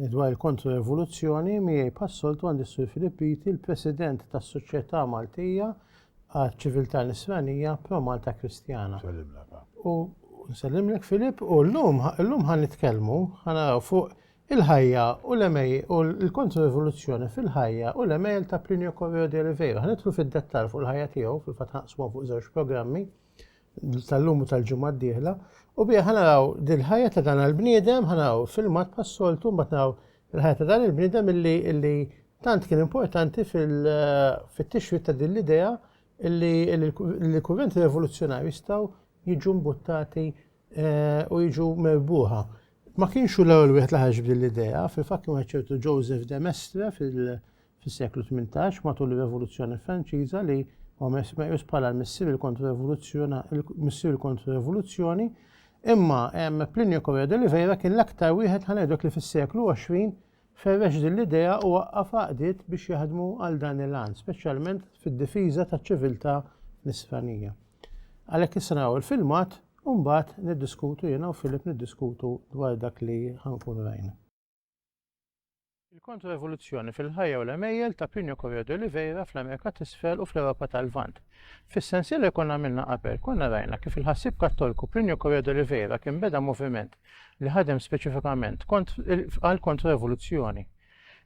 Dwar il-kontro-revoluzzjoni, miegħi bħas-soltu għandi s-Sur Filip Piti, l-President tas-Soċjetà Maltija għaċ-Ċiviltà Nisranija Pro Malta Kristjana. U nsellimlek Filip u llum llum ħan nitkellmu ħanaraw fuq il-ħajja u l-emej u l-kontro-revoluzzjoni fil-ħajja u l-emejl ta' Plinio Correo de Oliveira. Ħanitlu fid-dettal fuq il-ħajja tiegħu fil-fatt ħanqsmu fuq żewġ programmi tal-lum u tal-ġimgħa d-dieħla u biha ħanaraw dil-ħajja ta' dan il-bniedem ħanaraw filmat pas-soltu mbagħad naraw il-ħajja ta' dan il-bniedem illi illi tant kien importanti fit-tixrid ta' din l-idea illi l-kurrenti rivoluzzjonarji jistgħu jiġu mbuttati eh, u jiġu merbuħa. Ma kienx hu l-ewwel wieħed li ħarġ b'din l-idea, fil-fatt kien ċertu Joseph de Mestre fil- fis-seklu tmintax, matul ir-Revoluzzjoni Franċiża, li huwa mes- meqjus bħala l-missier il-kontrorevoluzzjona- il-missier il-kontrorevoluzzjoni, imma em, Plinio Correa de Oliveira kien l-aktar wieħed ħanejdlek li fis-seklu 20 ferrex din l-idea u waqqaf għaqdiet biex jaħdmu għal dan il-għan, speċjalment fid-difiża taċ-ċiviltà nisranija. Għalhekk issa naraw il-filmat u mbagħad niddiskutu jiena u Filip niddiskutu dwar dak li ħankun rajna. Il-kontro-evoluzzjoni fil-ħajja u l-għemejjel ta' Plinio Corio de Oliveira fl-Amerika t'Isfel u fl-Ewropa tal-Lvant. Fis-sensiela li konna għamilna qabel, konna rajna kif il-ħassieb Kattolku Plinio Corio de Oliveira kien beda moviment li ħadem speċifikament għal kontro-evoluzzjoni.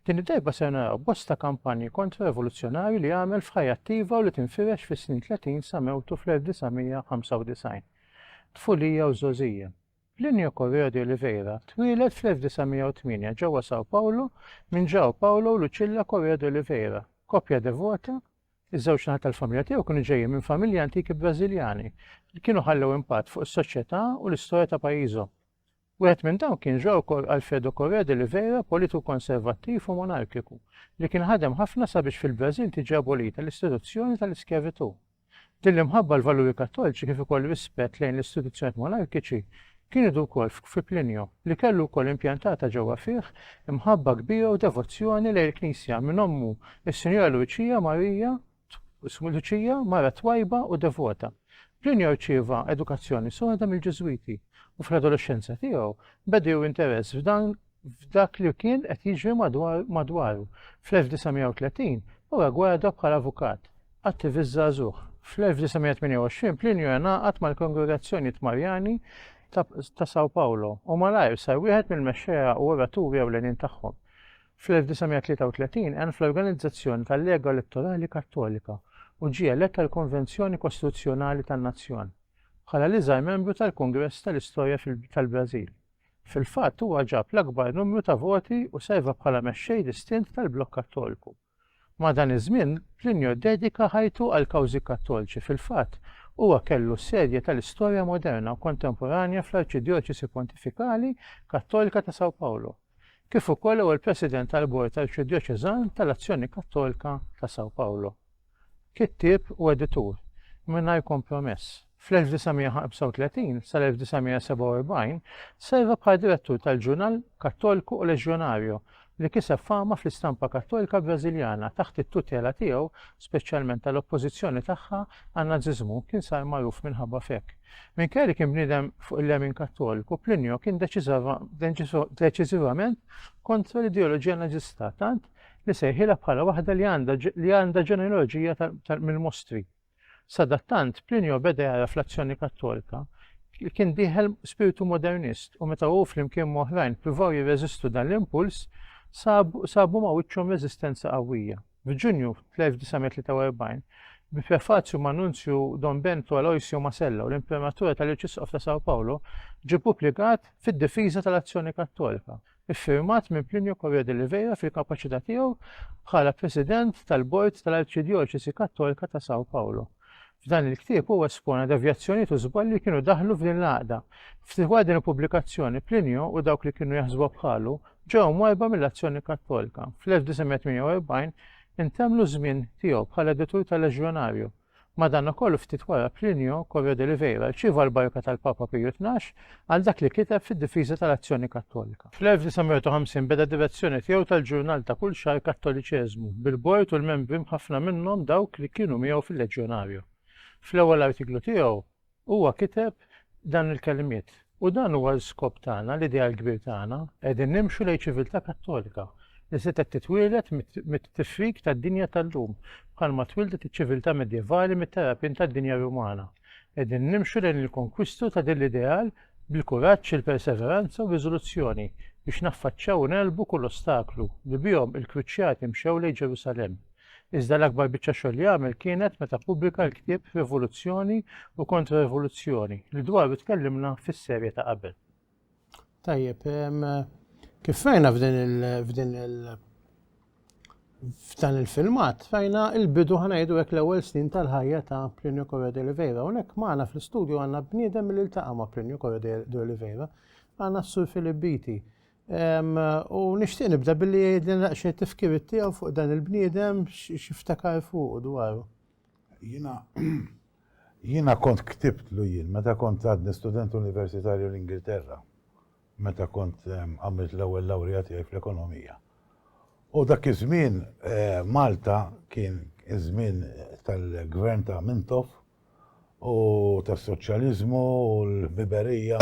Din id-darba ser naraw bosta kampanji kontro-evoluzzjonarji li għamel f'ħajja attiva u li tinfirex fis-snin 30 sa mewtu fl-1995. Tfulija u żgħożija. Plinio Correo de Oliveira twieled fl-1908 ġewwa São Paulo minn João Paulo u Lucilla Correo de Oliveira, koppja devota. Iż-żewġ naħat tal-familja tiegħu kienu ġejjin minn familji antiki Brażiljani li kienu ħallew impatt fuq is-soċjetà u l-istorja ta' pajjiżhom. Wieħed minn dawn kien João Alfredo Correo de Oliveira, politiku konservattiv u monarkiku, li kien ħadem ħafna sabiex fil-Brażil tiġi abolita l-istituzzjoni tal-iskjavitù. Din l-imħabba għal valuri kattoliċi kif ukoll rispett lejn l-istituzzjonijiet monarkiċi kien idu wkoll fi Plinio, li kellu wkoll impjantata ġewwa fih imħabba kbira u devozzjoni lejn il-Knisja minn ommu s-Sinjora Luċija Marija Luċija, mara twajba u devota. Plinio rċieva edukazzjoni soda mill-Ġiżwiti u fl-adolexxenza tiegħu beda jew interess f'dan f'dak li kien qed jiġri madwaru. Fl-1930 huwa ggwada bħala avukat, attivist żagħżugħ. Fl-1928 Plinio ingħaqad mal-kongregazzjonijiet Marjani ta' São Paulo u malajr sar wieħed mill-mexxejja u oraturi ewlenin tagħhom. Fl-1933 għen fl-organizzazzjoni tal-Lega Elettorali Kattolika u ġie elett għall-Konvenzjoni Kostituzzjonali tan-Nazzjon, bħala l-iżgħar membru tal-Kungress tal-Istorja tal-Brażil. Fil-fatt huwa ġab l-akbar numru ta' voti u serva bħala mexxej distint tal-Blokk Kattoliku. Madan iż-żmien, Plinio ddedika ħajtu għall-kawżi Kattolċi, fil-fatt, huwa kellu s-sedja tal-istorja moderna u kontemporanja fl-Arċidjoċesi Pontifikali Kattolika ta' São Paulo, kif ukoll ewwel President tal-Bord Arċidjoċeżan tal-Azzjoni Kattolika ta' São Paulo. kittieb u editur mingħajr kompromess. Fl-1935 sal-1947 serva bħala direttur tal-ġurnal Cattolico o Legionario, li kiseb fama fl-istampa Kattolika Brażiljana taħt it-tutela tiegħu, speċjalment tal-oppożizzjoni tagħha għan-Nażiżmu kien sar magħruf minħabba f'hekk. Minkejja li kien bniedem fuq il-lemin Kattoliku, Plinio kien deċiżivament kontra l-ideoloġija Nażista, tant li sejħilha bħala waħda li għandha li għandha ġenealoġija mill-mostri. Sadattant, Plinio beda jara fl-azzjoni Kattolika li kien dieħel spiritu modernist u meta hu flimkien moħrajn pruvaw jirreżistu dan l-impuls sabu ma' wiċċhom reżistenza qawwija. F'Ġunju 1943, bi prefazju ma' Nunzju Don Bento Aloisio Masella u l-Imprimatura tal-Arċisqof ta' Sao Paulo, ġie pubblikat fid-difiża tal-azzjoni kattolika. iffirmat minn Plinio Correa de Oliveira fil-kapaċità tiegħu bħala President tal-Bord tal-Arċidjoċesi Kattolika ta' São Paulo. F'dan il-ktieb huwa espona devjazzjonijiet u żbalji li kienu daħlu f'din l-għaqda. F'dwar din il-pubblikazzjoni, Plinio u dawk li kienu jaħsbu bħalu ġew mwajba mill-azzjoni Kattolika. Fl-1948 intemlu żmien tiegħu bħala editur tal-Leġjonarju Madankollu ftit wara Plinio Corro de Riveira rċieva l-barka tal-Papa Piju Tnax għal dak li kiteb fid-difiża tal-Azzjoni Kattolika. Fl-1950 beda d-direzzjoni tiegħu tal-ġurnal ta' kull xahar Kattoliċeżmu, bil-bord u l-membri mħaffna minnhom dawk li kienu miegħu fil-Leġjonario. Fl-ewwel artiklu tiegħu, Huwa kiteb dan il-kelmiet, U dan huwa l-skop tagħna, l-ideal kbir tagħna, qegħdin nimxu lejn ċiviltà kattolika, li setgħet titwieled mit-tifrik tad-dinja tal-lum, bħalma twieldet iċ-ċiviltà medjevali mit-tarapien tad-dinja Rumana. Qegħdin nimxu lejn il-konkwistu ta' din l-ideal bil-kuraġġ, il-perseveranza u r-riżoluzzjoni biex naffaċċjaw u negħlbu kull ostaklu, li bihom il-kruċjati mxew lejn Ġerusalemm. Iżda l-akbar biċċa xogħol li għamel kienet meta ppubblika l-ktieb Rivoluzzjoni u Kontra-Rivoluzzjoni li dwaru tkellimna fis-serje ta' qabel. Tajjeb, kif rajna f'din il f'din il f'dan il-filmat rajna il-bidu ħanajdu hekk l-ewwel snin tal-ħajja ta' Plinio Correa de Oliveira. Hawnhekk magħna fl-istudju għandna bniedem li ltaqa' ma' Plinio Correa de Oliveira. Għandna s-Sur Filip Biti U nixtieq nibda billi jgħidli naqxie tifkirit tiegħu fuq dan il-bniedem x'iftakar fuq dwaru. Jiena jiena kont ktibtlu jien meta kont għadni student universitarju l-Ingilterra meta kont għamilt l-ewwel lawrija tiegħi fl-ekonomija. U dak iż-żmien Malta kien iż-żmien tal-gvern ta' Mintoff u tas-soċjaliżmu u l-ħbiberija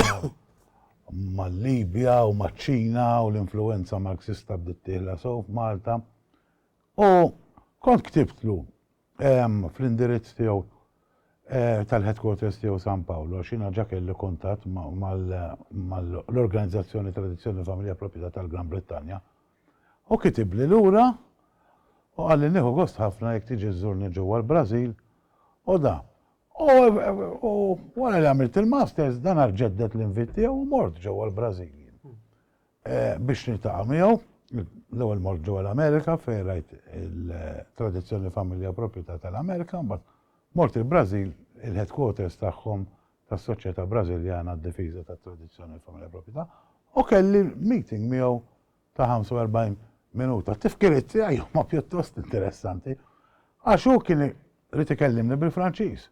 mal-Libja u maċ-Ċina u l-influwenza Marxista bdiet tieħla sew f'Malta. U kont ktibtlu ehm, fl-indirizz tiegħu Eh, tal-headquarters tiegħu San Paolo, xina ġa kelli kuntatt mal-organizzazzjoni Tradizzjoni Familja Proprjetà tal-Gran Brittanja, Hu kitibli lura u qalli nieħu gost ħafna jekk tiġi żżurni ġewwa l-Brażil u da. U wara li għamilt il-Masters dan aġġedded l-invit tiegħu u mort ġewwa l-Brażil jien biex niltaqa' miegħu. L-ewwel mort ġewwa l-Amerika fejn rajt il-tradizzjoni familja u propjetà tal-Amerika, mbagħad mort il-Brażil il-headquarters tagħhom tas-Soċjetà Brażiljana għad-Difiża tat-Tradizzjoni u l-Familja Proprjetà u kelli meeting miegħu ta' 45 minuta. T-tifkiriet tiegħi huma pjuttost interessanti għax hu kien irid ikellimni bil-Franċiż.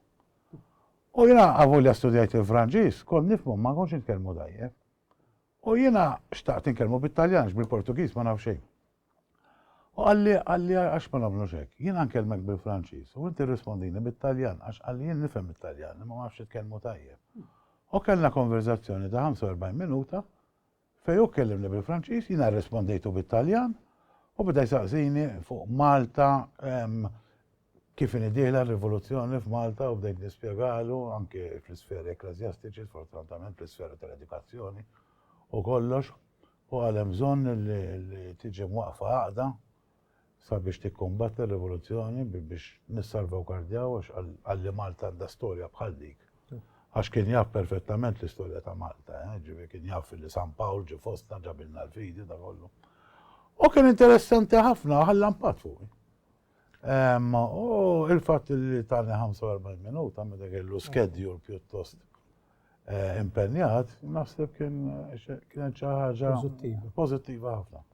U jiena avolja studjajt il-Franċiż, kont nifhmu ma kontx nitkellmu tajjeb. U jiena xtaqt nitkellmu bit-Taljan bil-Portugiż ma naf xejn. U qalli, qalli għax ma nagħmlux hekk. Jiena nkellmek bil-Franċiż u inti rrispondini bit-Taljan għax qalli jien nifhem it-Taljan imma ma nafx nitkellmu tajjeb. U kellna konverżazzjoni ta' 45 minuta fejn hu kellimni bil-Franċiż, jiena rrispondejtu bit-Taljan u beda jsaqsini fuq Malta, Kif inhi dieħla r-rivoluzzjoni f'Malta u bdejt nispjegalu anke fl-isferi ekkleżjastiċi, sfortunatament fl-isfera tal-edukazzjoni u kollox, u qal hemm bżonn li tiġi mwaqqfa għaqda sabiex tikkumbatti r-rivoluzzjoni biex nissalvawgardjaw għax qal li Malta għandha storja bħal dik. Għax kien jaf perfettament l-istorja ta' Malta, eh, ġifi kien jaf li San Pawl ġi fostna ġabilna l-fidi da kollu. U kien interessanti ħafna ħallan pat fuq. U il-fatt li tani 45 minuta meta kellu skedjul pjuttost eh, impenjat, naħseb kien kienet xi ħaġa pożittiva ħafna.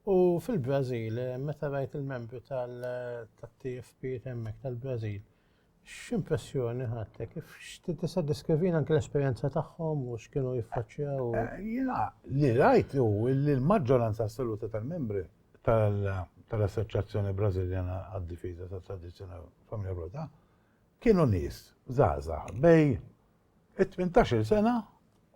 U fil-Brażil, eh, meta rajt il-membri tal-TFP hemmhekk tal-Brażil, X'impressjoni ħadtek? Kif xti tista' diskrivina anke l-esperjenza tagħhom u x'kienu jiffaċċjaw? Eh, jiena li rajt hu li l-maġġoranza assoluta tal-membri tal-Assoċjazzjoni Brażiljana għad-Difiża tat-Tradizzjoni Familja Broda kienu nies żgħażagħ bej it-18 sena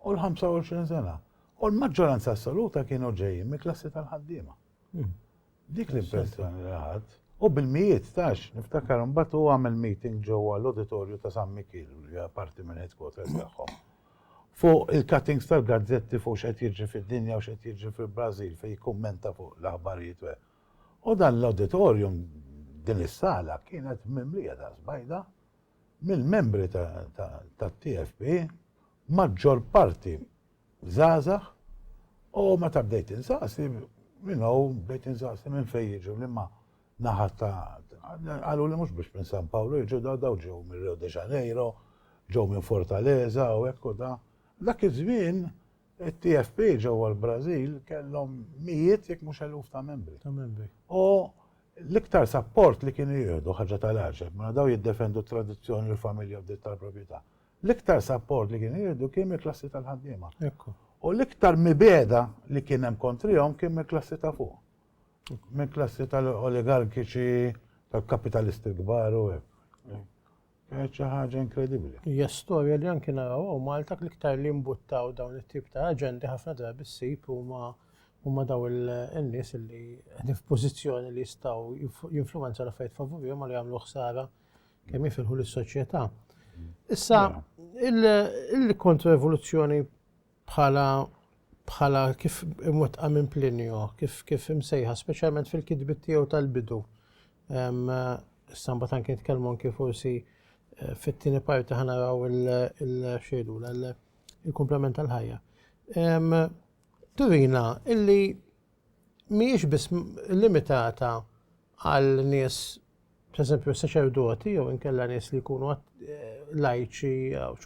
u l-25 sena. U l-maġġoranza assoluta kienu ġejjin mill-klassi tal-ħaddiema. Hmm. Dik l-impressjoni li ħadd. U bil-mijiet tax, niftakar imbagħad u għamel meeting ġewwa l-auditorju ta' San Mikiel li hija parti minn headquarters tagħhom. Fuq il-cuttings tal-gazzetti fuq x'qed jiġri fid-dinja u x'qed jiġri fil-Brażil fejn jikkummenta fuq l-aħbarijiet. U dan l-auditorium din is-sala kienet mimlija daqs bajda mill-membri tat-TFP maġġor parti żgħażagħ u meta bdejt insaqsi minn hawn bdejt insaqsi minn fejn jiġu liema naħa ta' qalu li mhux biex minn San Pawlu jiġu daw daw ġew minn Rio de Janeiro, ġew minn Fortaleza u hekk u da. Dak iż-żmien it-TFP ġewwa l-Brażil kellhom mijiet jekk mhux eluf ta' membri. Ta' membri. U l-iktar sapport li kienu jieħdu ħaġa tal-għaġeb, mela daw jiddefendu t-tradizzjoni l-familja bdiet tal-proprjetà. l-iktar sapport li kien jieħdu kien mill-klassi tal-ħaddiema. U l-iktar mibeda li kien hemm kontrihom kien mill-klassi ta' fuq. Mill-klassi tal-oligarkiċi, tal-kapitalisti kbar u hekk. Kienet xi ħaġa inkredibbli. Hija storja li anki naraw u Malta l-iktar li mbuttaw dawn it-tip ta' aġendi ħafna drabi ssib huma huma daw il-nies li qegħdin f'pożizzjoni li jistgħu jinfluwenza l-affarijiet favurihom ma li jagħmlu ħsara kemm jifilħu lis-soċjetà. Issa, il-kontroevoluzzjoni bħala bħala kif imwettqa minn Plinio, kif kif imsejħa, speċjalment fil-kitbit tiegħu tal-bidu. Samba tan kien tkellmu anke forsi eh, fit-tieni parti ħanaraw il-xejdu il-komplement tal-ħajja. Turina illi mhijiex biss limitata għal nies pereżempju s-saċerdoti jew inkella nies li jkunu lajċi,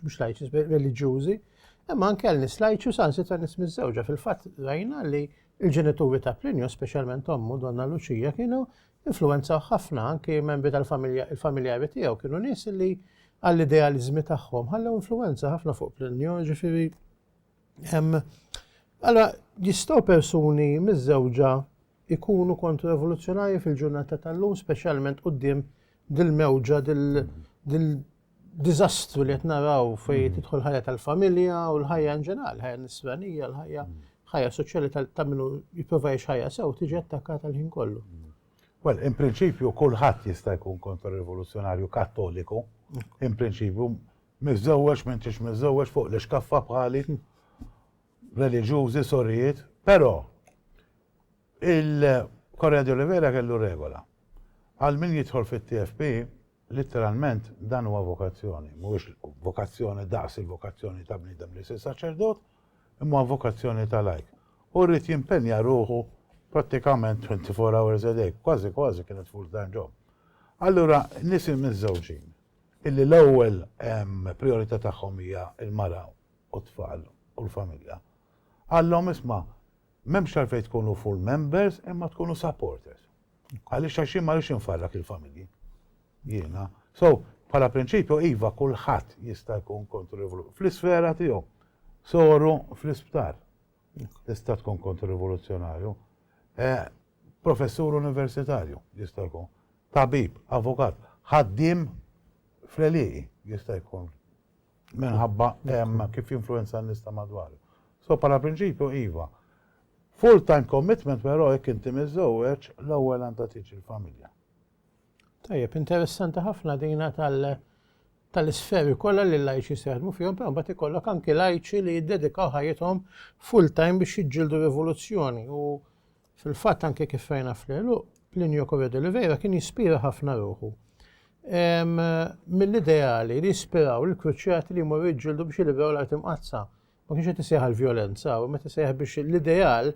mhux lajċi, reliġjużi, imma anke għal nies lajċi u sansi ta' nies miżewġa fil-fatt rajna li l-ġenituri ta' Plinju, speċjalment ommu Donna Luċija, kienu influenza ħafna anke membri tal-familja, il-familjari tiegħu kienu nies li għall-idealizmi tagħhom ħallew influenza ħafna fuq Plinju, ġifieri Allora, jistgħu persuni miżżewġa ikunu kontra rivoluzzjonarji fil-ġurnata tal-lum, speċjalment quddiem dil-mewġa, dil-diżastru li qed naraw fejn mm. tidħol ħajja tal-familja u l-ħajja in ġenerali, ħajja nisranija, l-ħajja mm. ħajja soċjali ta' minnu jipprova ħajja sew tiġi attakkata l-ħin kollu. Mm. Well, in prinċipju kulħadd jista' jkun kontra rivoluzzjonarju kattoliku, in prinċipju Miżżewweġ, m'intix miżżewweġ, fuq l-ixkaffa bħali, reliġjużi, sorijiet, però il-Correia de Oliveira kellu regola. Għal min jidħol fit-TFP, litteralment dan huwa vokazzjoni, mhuwiex vokazzjoni daqs il-vokazzjoni ta' bniedem li jsir saċerdot, imma huwa vokazzjoni ta' lajk. U rrid jimpenja ruħu prattikament 24 hours a day, kważi kważi kienet full-time job. Allura nies immiżżewġin illi l-ewwel prijorità tagħhom hija l-mara u t-tfal u l-familja, qallhom isma' m'hemmx għalfejn tkunu full members imma tkunu supporters. Għaliex għax jien ma rridx infarrak il-familji. Jiena. So, bħala prinċipju iva kulħadd jista' jkun kontririvoluzzjonarju fl-isfera tiegħu. Soru fl-isptar tista' tkun kontririvoluzzjonarju. Eh, professur universitarju jista' jkun. Tabib, avukat, ħaddiem fl-għelieqi jista' jkun minħabba kif jinfluwenza n-nies ta' madwaru. So bħala prinċipju iva. Full time commitment però jekk inti miżżewweġ l-ewwel għandha tiġi l-familja. Tajjeb, interessanti ħafna dina tal- tal-isferi kollha li l-lajċi seħdmu fihom, però mbagħad ikollok anki lajċi li jiddedikaw ħajjithom full time biex jiġġieldu rivoluzzjoni u Fil-fatt anke kif rajna fl-għeluq, Plinio Corre de Oliveira kien jispira ħafna ruħu mill-ideali li jispiraw il-kruċjati li jmorru jġildu biex jilibraw l-art imqaddsa. Ma kienx qed isejħ għall-vjolenza, u meta sejħ biex l-ideal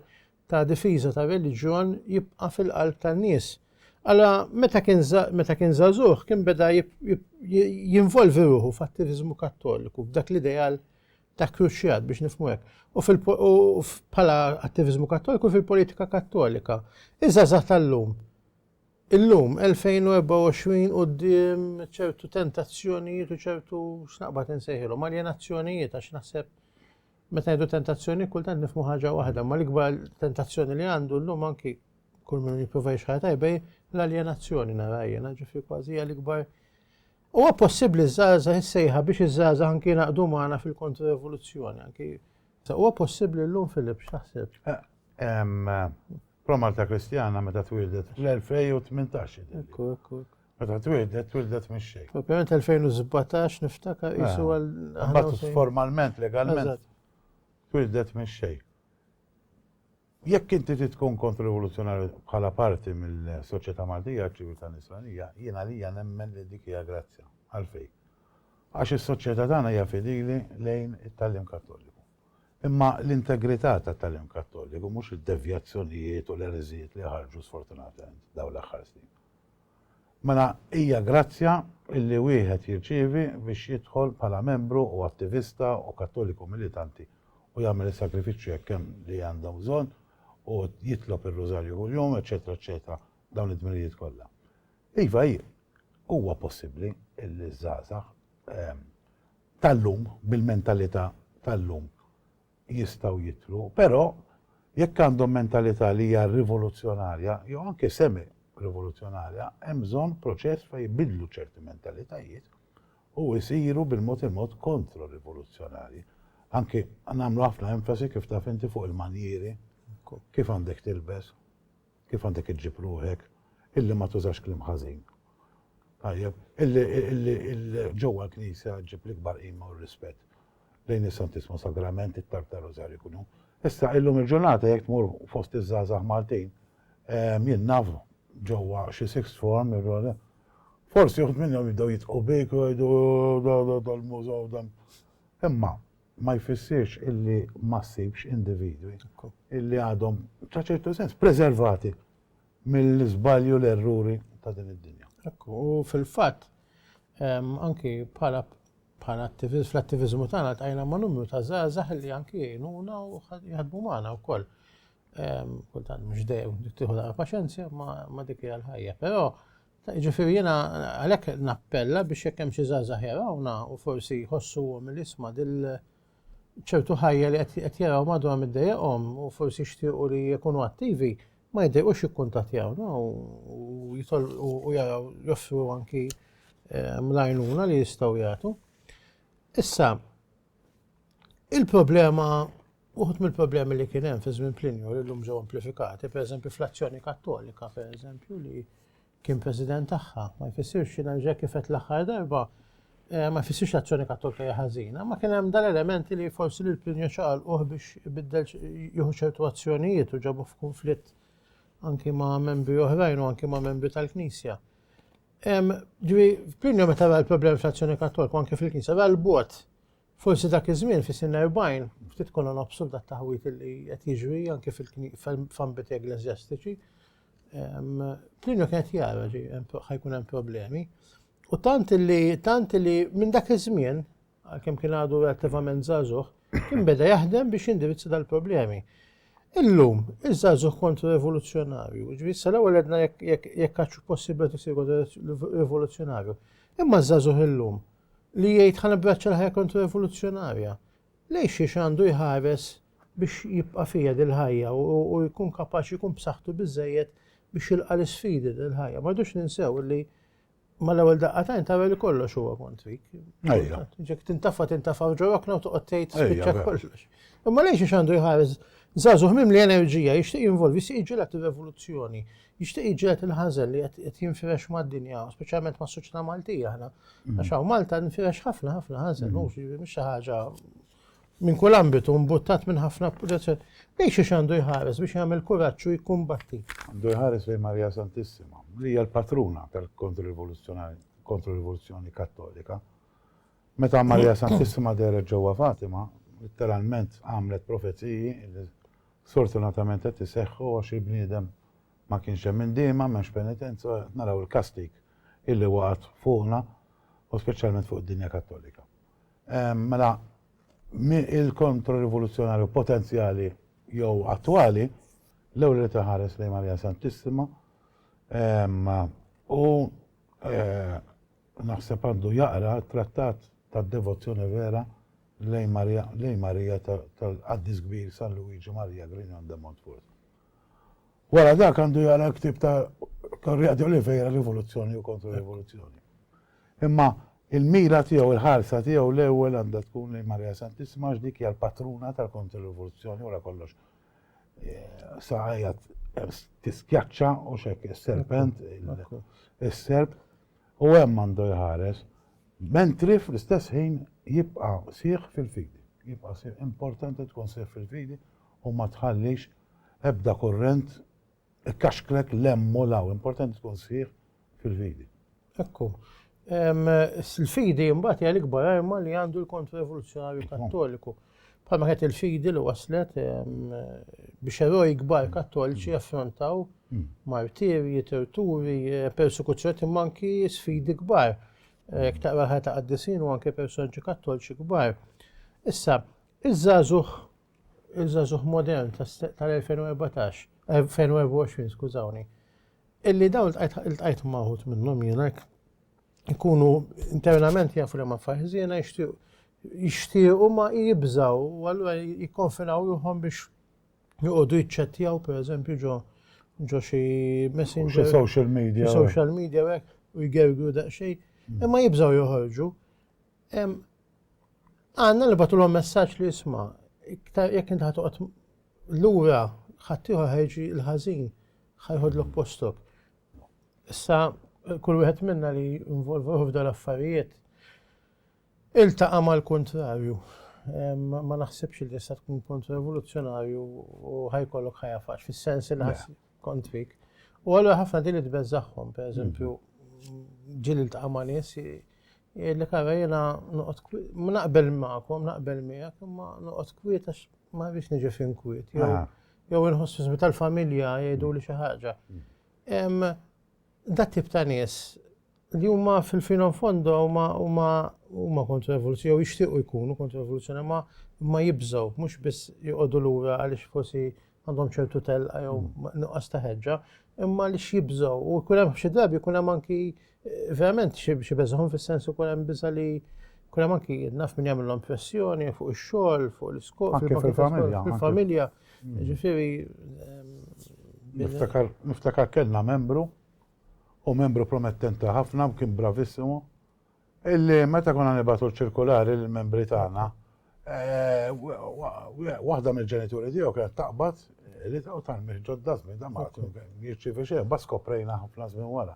ta' difiża ta' reliġjon jibqa' fil-qalb tan-nies. Alla meta kien meta kien żagħżugħ kien beda jinvolvi ruħu f'attiviżmu kattoliku f'dak l-ideal ta' kruċjat biex nifmu hekk. U bħala attiviżmu kattoliku fil-politika kattolika. Iż-żgħażagħ tal-lum. Illum 2024 quddiem ċertu tentazzjonijiet u ċertu x'naqbad insejħilhom aljenazzjonijiet għax naħseb meta jdu tentazzjoni kultant nifmu ħaġa waħda, ma l-ikbar tentazzjoni li għandu llum anki kull min jipprova jixħar tajbej l-aljenazzjoni narajja, naġifi kważi l-ikbar Huwa possibbli ż-żgħażagħ is-sejħa biex iż-żgħażagħ anki jingħaqdu magħna fil-kontrorevoluzzjoni anki huwa possibbli llum Filip x'taħseb? Promarta Kristjana meta twildet fl-2018. Ekku, ekku. Meta twildet, twildet minn xejn. Ovvjament 2017 niftakar isu għal. Mbagħad formalment, legalment. Twildet minn xejn. Jekk inti trid tkun kontrivoluzzjonarju bħala parti mill-soċjetà Maltija għaċ-ċiviltà Nisranija, jien għalija nemmen li dik hija grazzja. Għalfejn? Għax is-soċjetà tagħna hija fidili lejn it-tagħlim Kattoliku. Imma l-integrità tat-tagħlim Kattoliku, mhux id-devjazzjonijiet u l-ereżijiet li ħarġu sfortunatament dawn l-aħħar snin. Mela hija grazzja illi wieħed jirċievi biex jidħol bħala membru u attivista u Kattoliku militanti u jagħmel is-sagrifiċċju hekk hemm li għandhom bżonn u jitlob ir-Rużarju kuljum, eċċetera, eċċetera, dawn id-dmirijiet kollha. Iva hi, huwa possibbli illi ż-żgħażagħ tal-lum, bil-mentalità tal-lum, jistgħu jidhru, però jekk għandhom mentalità li hija rivoluzzjonarja jew anke semi rivoluzzjonarja, hemm bżonn proċess fejn jbidlu ċerti mentalitajiet u jsiru bil-mod il-mod kontro-rivoluzzjonarji. Anke nagħmlu ħafna enfasi kif taf inti fuq il-manjieri, kif għandek tilbes. Kif għandek iġġib ruħek illi ma tużax kliem ħażin? Tajjeb, illi illi illi ġewwa l-Knisja ġġib l-ikbar qima u r-rispett lejn is-Santissmu Sagrament, it-talb tar-Rużarju kull jum. Issa illum il-ġurnata jekk tmur fost iż-żgħażagħ Maltin, jien naf ġewwa xi sixth form, forsi uħud minnhom jibdew jitqu bik u jgħidu dal-mużaw dan. Imma ma jfissirx illi ma ssibx individwi illi għadhom, ta' ċertu sens, preservati mill-iżbalji u l-erruri ta' din id-dinja. Ekku, u fil-fatt, anki bħala bħala attiviżmu, fl-attiviżmu tagħna ltqajna ma' numru ta' żgħażagħ li anki jgħinuna u jaħdmu magħna wkoll. Kultant mhux dejjem tieħu daqqa paċenzja ma' dik hija l-ħajja, però Jiġifieri jiena għalhekk nappella biex jekk hemm xi żgħażagħ jarawna u forsi jħossuhom li isma' dil ċertu ħajja li qed jaraw madwar middejjaqhom u forsi jixtiequ li jkunu attivi, ma jiddejqux jikkuntattjawna u jitolqu u jaraw joffru anki eh, mlajnuna li jistgħu jagħtu. Issa, il-problema Uħud mill-problemi li kien hemm fi żmien Plinju li llum ġew amplifikati, pereżempju fl-azzjoni Kattolika, pereżempju, li kien president tagħha, ma jfissirx jiena ġej kif qed l-aħħar darba, eh, ma jfissirx l-azzjoni Kattolika hija ħażina, ma kien hemm dal-elementi li forsi lil Plinju ċaqalquh biex ibiddel jieħu ċertu azzjonijiet u ġabu f'kunflitt anki ma' membri oħrajn u anki ma' membri tal-Knisja. Ġivi, Plinju meta ra l-problemi fl-azzjoni Kattolika anki fil-Knisja ra l-bot Forsi dak iż-żmien fis-snin erbgħin ftit konna nobsru dat-taħwid li qed jiġri anke f'ambiti eggleżjastiċi. Plinju kien qed jara li ħajkun hemm problemi. U tant li tant li minn dak iż-żmien għalkemm kien għadu relativament żagħżugħ, kien beda jaħdem biex jindirizza dal-problemi. Illum, iż-żagħżugħ kontra rivoluzzjonarju, ġifieri sa l-ewwel għedna jekk għax possibbli tisiru rivoluzzjonarju. Imma ż-żagħżugħ illum li jgħid ħa nabbraċċa l-ħajja kontra-rivoluzzjonarja, lejn xiex għandu jħares biex jibqa' fiha din il-ħajja u jkun kapaċi jkun b'saħħtu biżżejjed biex jilqa' l-isfidi din il-ħajja. Ma rridux ninsew li mal-ewwel daqqatajn tara li kollox huwa kontrik. Ejja. Ġek tintafa tintafa ġorokna u toqgħod tgħid spiċċa kollox. Imma lejn xi għandu jħares żagħżugħ mimli enerġija jixtieq jinvolvi si jiġġieled ir-revoluzzjoni. Jixtieq iġġehed il-ħażen li qed jinfirex mad-dinja, speċjalment mas-soċjetà Maltija aħna. Mm. Għax hawn Malta nfirex ħafna ħafna ħażen, mm. mhux xi ħaġa minn kull ambitu mbuttat minn ħafna protezzjoni. Lejn xiex għandu jħares biex jagħmel kuraġġ u jkumbatti. Għandu jħares lejn Marija Santissima, li hija l-patruna tal-kontrrivoluzzjonari kontrrivoluzzjoni kattolika. Meta Marija Santissima deret ġewwa Fatima, literalment għamlet profeziji li Sfortunatament qed iseħħu għax il-bniedem ma kienx hemm indiema, m'hemmx penitenza u qed naraw il-kastig illi waqgħet fuqna u speċjalment fuq id-dinja kattolika. Mela il-kontro-rivoluzzjonarju potenzjali jew attwali l-ewwel irid iħares lejn Marija Santissima u naħseb għandu jaqra t-trattat tad-devozzjoni vera Lejn Marija, lejn Marija tal-Qaddis Kbir San Luigi Maria Grignon de Montfort. Wara dak għandu jara l-ktieb ta' Correa de Oliveira Rivoluzzjoni u Kontro-Rivoluzzjoni. Imma il-mira tiegħu, il-ħarsa tiegħu l-ewwel għandha tkun lejn Marija Santissima għax dik hija l-patruna tal-Kontro-Rivoluzzjoni wara kollox. Eh, sa hija tiskjaċċa u xek is-serpent, is-serp, u hemm għandu jħares, mentri fl-istess ħin jibqa' sħiħ fil-fidi. Jibqa' sħiħ. Importanti tkun sħiħ fil-fidi u ma tħallix ebda kurrent ikkaxklek 'l hemm u 'l hawn. Importanti tkun sħiħ fil-fidi. Hekk hu. Il-fidi mbagħad hija l-ikbar arma li għandu l-Kontra-Rivoluzzjonarju Kattoliku. Bħalma kienet il-fidi li waslet biex eroj kbar kattoliċi jaffrontaw martirji, torturi, persekuzzjoni imma anki sfidi kbar. Ktaqra ħajja ta' qaddisin u anki personaġġi kattoliċi kbar. Issa, iż-żagħżugħ il-żazuħ modern tal-2014, 2024, skużawni, illi dawn il-tqajt maħut minnom jenak. ikunu internament jafu li ma faħżina jixtiequ ma jibżaw u allura jikkonfinaw ruħhom biex joqogħdu jiċċettjaw pereżempju ġo ġo xi messenger. social media. Social media hekk u jgergru daqsxejn. Mm. Imma jibżaw joħorġu. Għanna li batulhom messaġġ li jisma' iktar jekk inti ħatoqgħod lura ħaddieħor ħejġi l-ħażin ħajħodlok postok. Issa, kull wieħed minna li involvu f'dan affarijiet iltaqa' mal-kuntrarju. Ma naħsibx li issa tkun punt revoluzzjonarju u ħajkollok ħajja faċ, fis-sens li ħass kontrik. U għallu ħafna din li tbeżaħħom, per eżempju, ġil iltaqa' ma' nies li kara jena noqgħod naqbel magħkom, naqbel miegħek, imma noqgħod kwiet għax ma rridx niġi fin kwiet. jew inħoss fi żmien tal-familja jgħidu li xi ħaġa. Dat tip ta' nies li huma fil-fino fondo huma huma kontrovoluzzjoni jew jixtiequ jkunu kontrovoluzzjoni ma ma jibżgħu mhux biss joqogħdu lura għaliex forsi għandhom ċertu telqa jew nuqqas ta' ħeġġa, imma li x'jibżgħu u jkun hemm xi drabi jkun hemm anki Verament xi beżgħun fis-sens ukoll hemm biża' li kun hemm anki naf min jagħmilhom pressjoni fuq ix-xogħol, fuq l-iskop, fil-familja. Ġifieri. Niftakar kellna membru u membru promettenti ħafna kien bravissimu illi meta konna nibatu ċirkulari lill-membri tagħna Waħda mill-ġenituri tiegħu kienet taqbad li taw tal-mih ġodda żmien da ma jirċievi xejn, bas koprejna ħafna żmien wara.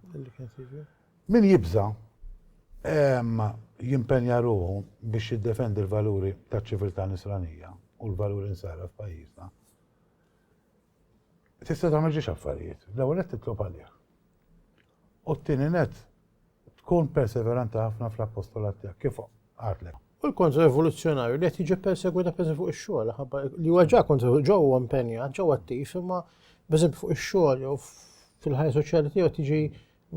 Min jibża jimpenja ruħu biex jiddefendi l-valuri ta' ċiviltà nisranija u l-valuri nsara f'pajjiżna. Tista' tagħmel ġiex affarijiet, l-ewwel qed titlob għalih. U t-tieni nett, tkun perseveranti ħafna fl-appostolat tiegħek, kif għadlek. U l-kontra-rivoluzzjonarju li qed jiġi persegwita pereżempju fuq ix-xogħol, ħabba li huwa ġa kontra ġewwa impenjat, ġewwa attiv, imma pereżempju fuq ix-xogħol jew fil-ħajja soċjali tiegħu qed jiġi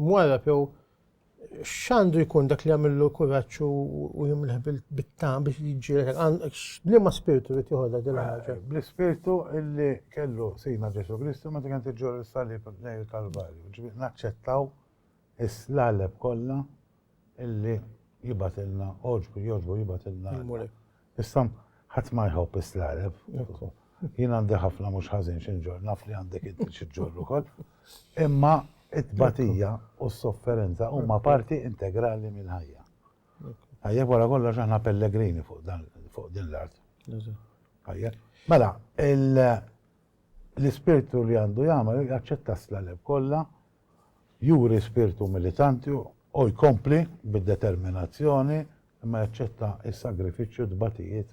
mwarrab jew x'għandu jkun dak li jagħmillu kuraġġ u jimleħ bit-tam biex jiġġieled liema spirtu li tieħodha din ħaġa. Bl-ispirtu li kellu Sidna Ġesù Kristu meta kienet iġġorr is-salib lejn il-Kalvarju, ġifieri naċċettaw is-slaleb kollha illi jibgħatilna għoġbu jogħġbu jibgħatilna. Issa ħadd ma jħobb is-slaleb. Jien għandi ħafna mhux ħażin xi ġor, naf li għandek inti xi ġor ukoll. Imma it-tbatija u s-sofferenza huma parti integrali mill-ħajja. Tajjeb, wara kollox aħna pellegrini fuq dan fuq din l-art. Tajjeb. Mela, l-ispirtu li għandu jagħmel jaċċetta s-slaleb kollha, juri spirtu militanti u jkompli bid-determinazzjoni imma jaċċetta s-sagrifiċċju tbatijiet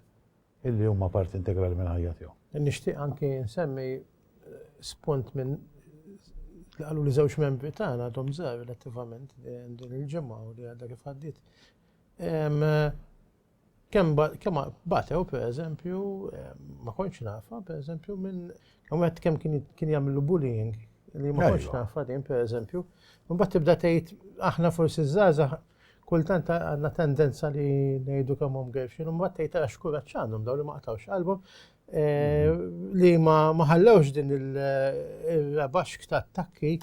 illi huma parti integrali minn ħajja tiegħu. Nixtieq anki nsemmi spunt minn li qalu li żewġ membri tagħna għadhom żgħar relattivament din il-ġimgħa u li għadha kif għaddiet. Kemm batew pereżempju ma kontx nafa pereżempju minn wieħed kemm kien jagħmlu bullying li ma kontx nafa din pereżempju. Mbagħad tibda tgħid aħna forsi żgħażagħ Kultant għandna tendenza li ngħidu kemm hum gerxin, imbagħad tgħid għax kuraġġ għandhom dawn li ma qtawx qalbhom eh, li ma ħallewx din il-rabaxk ta' attakki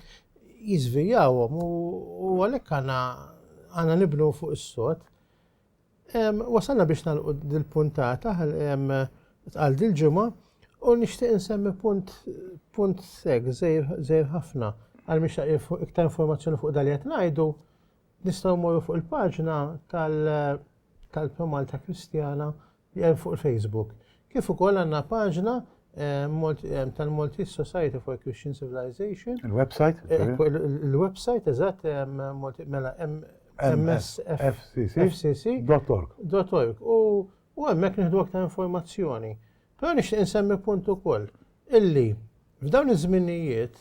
jizvijawhom u għalhekk għandna għandna nibnu fuq is-sod. Wasalna biex nagħlqu dil-puntata għal dil-ġimgħa u nixtieq insemmi punt punt seg żejr ħafna għal miex iktar informazzjoni fuq dal-jett ngħidu Nistgħu mmorru fuq il-paġna tal tal-Promalta Kristjana li hemm fuq il-Facebook. Kif ukoll għandna paġna ehm, ehm, tal-Maltese Society for Christian Civilization. Il-website? Eh, il-website, eżatt, ehm, mela msfcc.org. U hemmhekk nieħdu aktar informazzjoni. Però nixtieq insemmi punt ukoll illi f'dawn iż-żminijiet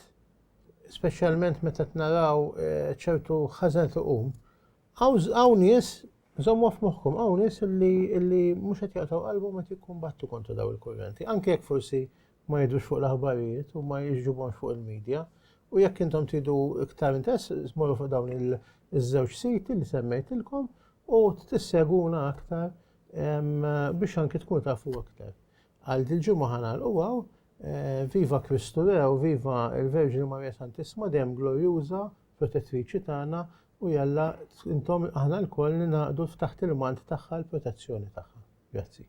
speċjalment meta qed naraw eh, ċertu ħażen tuqum, hawn nies żommu f'moħħkom hawn nies li mhux qed jaqtaw qalbu meta jikkumbattu kontra daw il-kurrenti, anke jekk forsi ma jidrux fuq l-aħbarijiet u ma jiġġubhomx fuq il-medja. U jekk intom tidu iktar interess, smorru fuq dawn iż-żewġ siti li semmejtilkom u tisseguna aktar biex anki tkun tafu aktar. Għal dil-ġimgħa ħanal u għaw Eh, viva Kristu Rew, viva il-Verġini Marija Santissima, dem glorjuża, protettriċi tagħna u jalla intom aħna lkoll ninaqdu taħt il-mant tagħha l-protezzjoni tagħha. Grazzi.